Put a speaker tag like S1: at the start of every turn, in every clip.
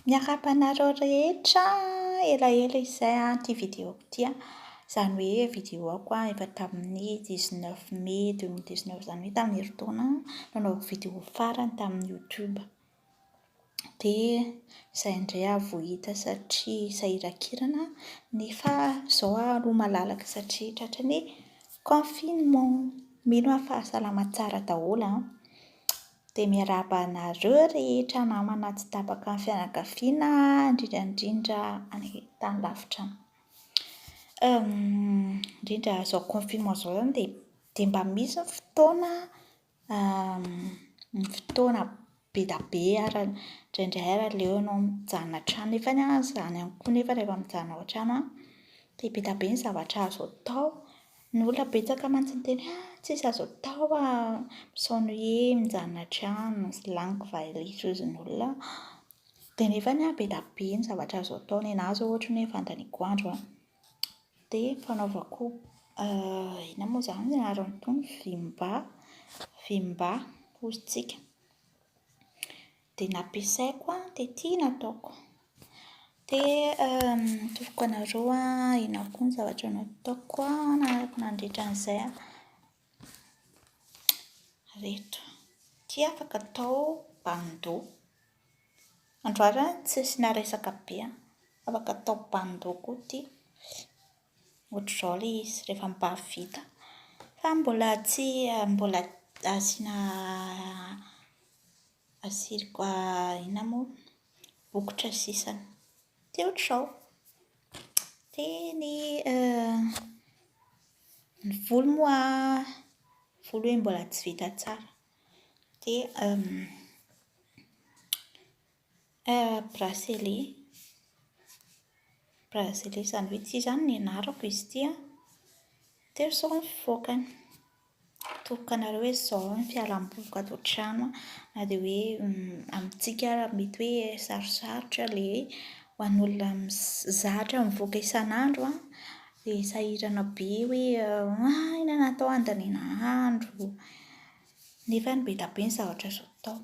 S1: Miarahaba anareo rehetra elaela izay ah ity vidéo ity ah, izany hoe vidéo ako ah efa tamin'ny dix neuf mai deux mille dix neuf izany hoe tamin'ny herintaona no nanaovako vidéo farany tamin'ny youtube, dia izay indray aho vao hita satria sahiran-kirana nefa izao aho aloha malalaka satria tratran'ny confinement, mino aho fa salama tsara daholo an! Dia miarahaba anareo rehetra namana tsy tapaka ny fianakaviana, indrindra indrindra any tany lavitra any. Indrindra izao confinement izao izany dia dia mba misy ny fotoana ny fotoana be dia be ary indraindray ary aleonao mijanona an-trano nefa ny ahy izany ihany koa nefa rehefa mijanona ao an-trano aho dia be dia be ny zavatra azo atao. Ny olona betsaka mantsy miteny hoe ah tsisy azo atao ah, misaona hoe mijanona an-trano, sy laniko valiha sy hozy ny olona an, dia nefa ny ahy be dia be ny zavatra azo atao, ny anah izao ohatra ny hoe fandaniako andro an, dia fanaovako inona moa izany ny anaran'itony, vim-ba, vim-ba hozy tsika. Dia nampiasaiko an, dia tia nataoko. Dia atoroako anareo an, inona koa ny zavatra nataoko nandritra an'izay an. Ireto, ity afaka atao bandeau. Andro alina an, tsy nisy naharesaka be an. Afaka atao bandeau koa ity. Ohatr'izao ilay izy rehefa mibavy vita. Fa mbola tsy, mbola asiana Asiriko aina moa bokotra sisany teo trao teny eh, ny volo moa volo hoe mbola tsy vita tsara dia Eh, Bracelet. Bracelet izany hoe tsy izany ny anarako izy ity an! Teo izao ny fivoakany. Toky anareo hoe izao ny fialam-boliko ato an-trano an! Na dia hoe amintsika ary mety hoe sarosarotra ilay ho an'olona zatra mivoaka isan'andro an! Dia sahirana be hoe hay ny natao handaniana andro. Nefa be dia be ny zavatra azo atao.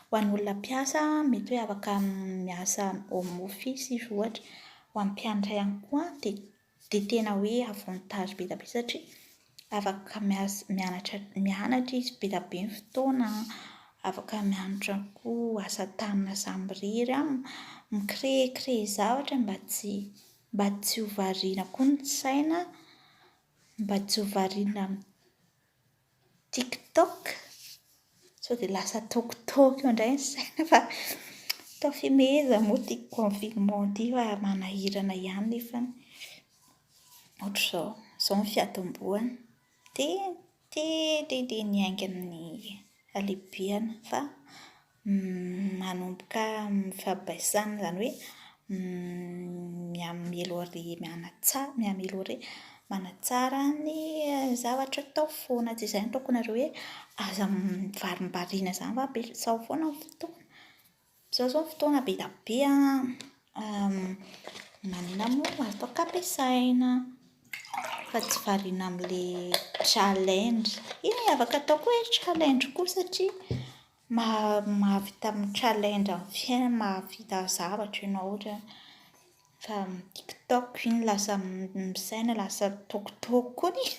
S1: Ho an'olona mpiasa, mety hoe afaka miasa home office izy ohatra. Ho an'ny mpianatra ihany koa dia dia tena hoe avantage be dia be satria afaka miasa mianatra mianatra izy be dia be ny fotoana, afaka mianatra koa asa tanana samirery an, mi-créer créer zavatra mba tsy mba tsy ho variana koa ny saina, mba tsy ho variana TikTok sao dia lasa toky toky eo indray ny saina fa atao fehezany moa ity confinement ity fa manahirana ihany nefany ohatr'izao, izao ny fiatombohany dia dia dia dia ny haingana ny halehibeany fa. manomboka mifampibaisan izany hoe mi-améliorer mianatsara mi-améliorer manatsara ny zavatra atao foana tsy izay no ataokonareo hoe aza varimbariana izany fa ampiasao foana ny fotoana ampiasao izao ny fotoana be dia be an maninona moa no afaka ampiasaina fa tsy variana amin'ilay challenge ee afaka atao koa hoe challenge koa satria Mahavita mi-challenge amin'ny fiainana, mahavita zavatra ianao ohatra hoe fa amin'ny tiktok iny lasa misaina lasa tokotoko koa izy.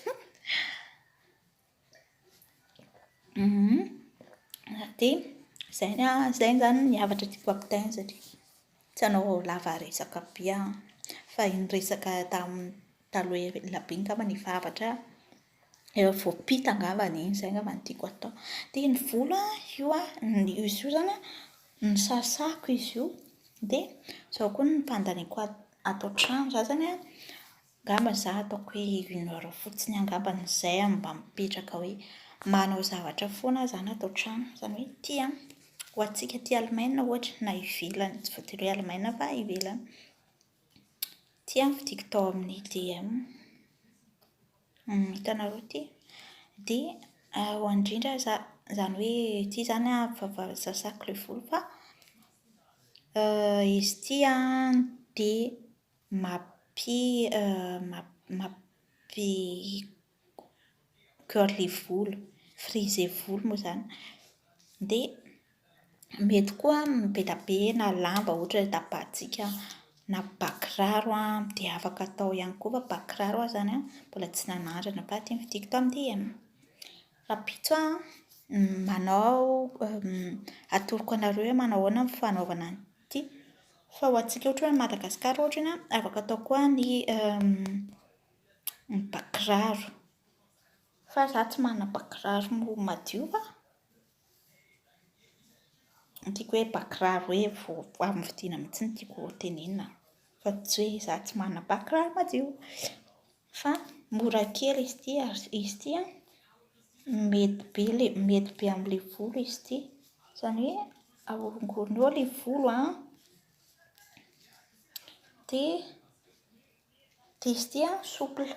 S1: Dia izay ny ahy, izay izany ny zavatra tiako ampitahaina satria tsy hanao lava resaka be aho fa iny resaka tamin'ny taloha ela be angamba no efa hafatra ahy. efa voapita angambany iny, izay angamba no tiako hatao. Dia ny volo an, io an, izy io izany an, nosasako izy io, dia izao koa ny fandaniako ato ato an-trano. Izaho izany an, angamba izaho ataoko hoe une heure fotsiny angamba no izay aho mba mipetraka hoe manao zavatra foana aho izany ato an-trano. Izany hoe ity an, ho antsika aty Allemagne ohatra na ivelany, tsy voatery hoe Allemagne fa ivelany. Ity an, vidiako tao amin'ny DEM. Hitanareo ity? Dia ho an'ny indrindra aza, izany hoe ity izany an, fahavalo sasako ilay volo fa izy ity an dia mampi- mampi- curly volo, frisé volo moa izany. Dia Mety koa amin'ny be dia be na lamba ohatra ny tapahantsika na bakiraro dia afaka atao ihany koa fa bakiraro aho izany mbola tsy nanandrana fa ity ny fidiko tao amin'ny DM. Rahampitso aho manao atoroko anareo hoe manao ahoana ny fanaovana an'ity fa ho antsika ohatra hoe any Madagasikara ohatra iny afaka atao koa ny ny bakiraro fa izaho tsy manana bakiraro madio fa. Ny tiako hoe bakiraro hoe vao amin'ny fidiana mihitsy no tiako ho tenenina fa tsy hoe izaho tsy manana bakiraro madio fa mora kely izy ity ary izy ity an, mety be ilay mety be amin'ilay volo izy ity, izany hoe ahorongorony eo ilay volo an dia Diso ity an, souple.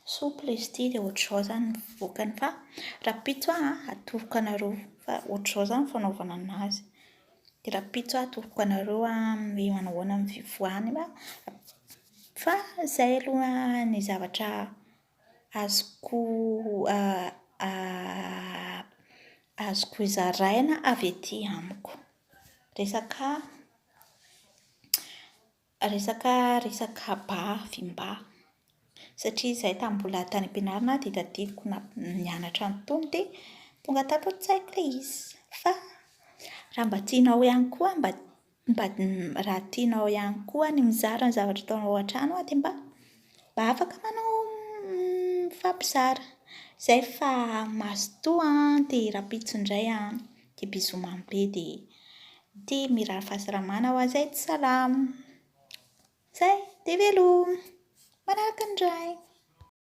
S1: Souple izy ity dia ohatr'izao izany ny vokany fa rahampitso aho atoroko anareo fa ohatr'izao izany ny fanaovana an'azy. Dia rahampitso aho atoroko anareo hoe manao ahoana ny fivoahany fa fa izay aloha ny zavatra azoko azoko hozaraina avy ety amiko. Resaka Resaka resaka ba fim-ba. Satria izahay tamin'ny mbola tany am-pianarana dia tadidiko na- nianatra an'itony dia tonga tato an-tsaiko ilay izy. Fa raha mba tianao ihany koa mba mba raha tianao ihany koa ny mizara ny zavatra ataonao an-trano dia mba. Mba afaka manao mifampizara. Zay fa mazotoa an dia rahampitso indray an dia bisous mamy be dia ity mirary fahasalamana ho an'izay tsy salama. Zay dia veloma. Manaraka indray.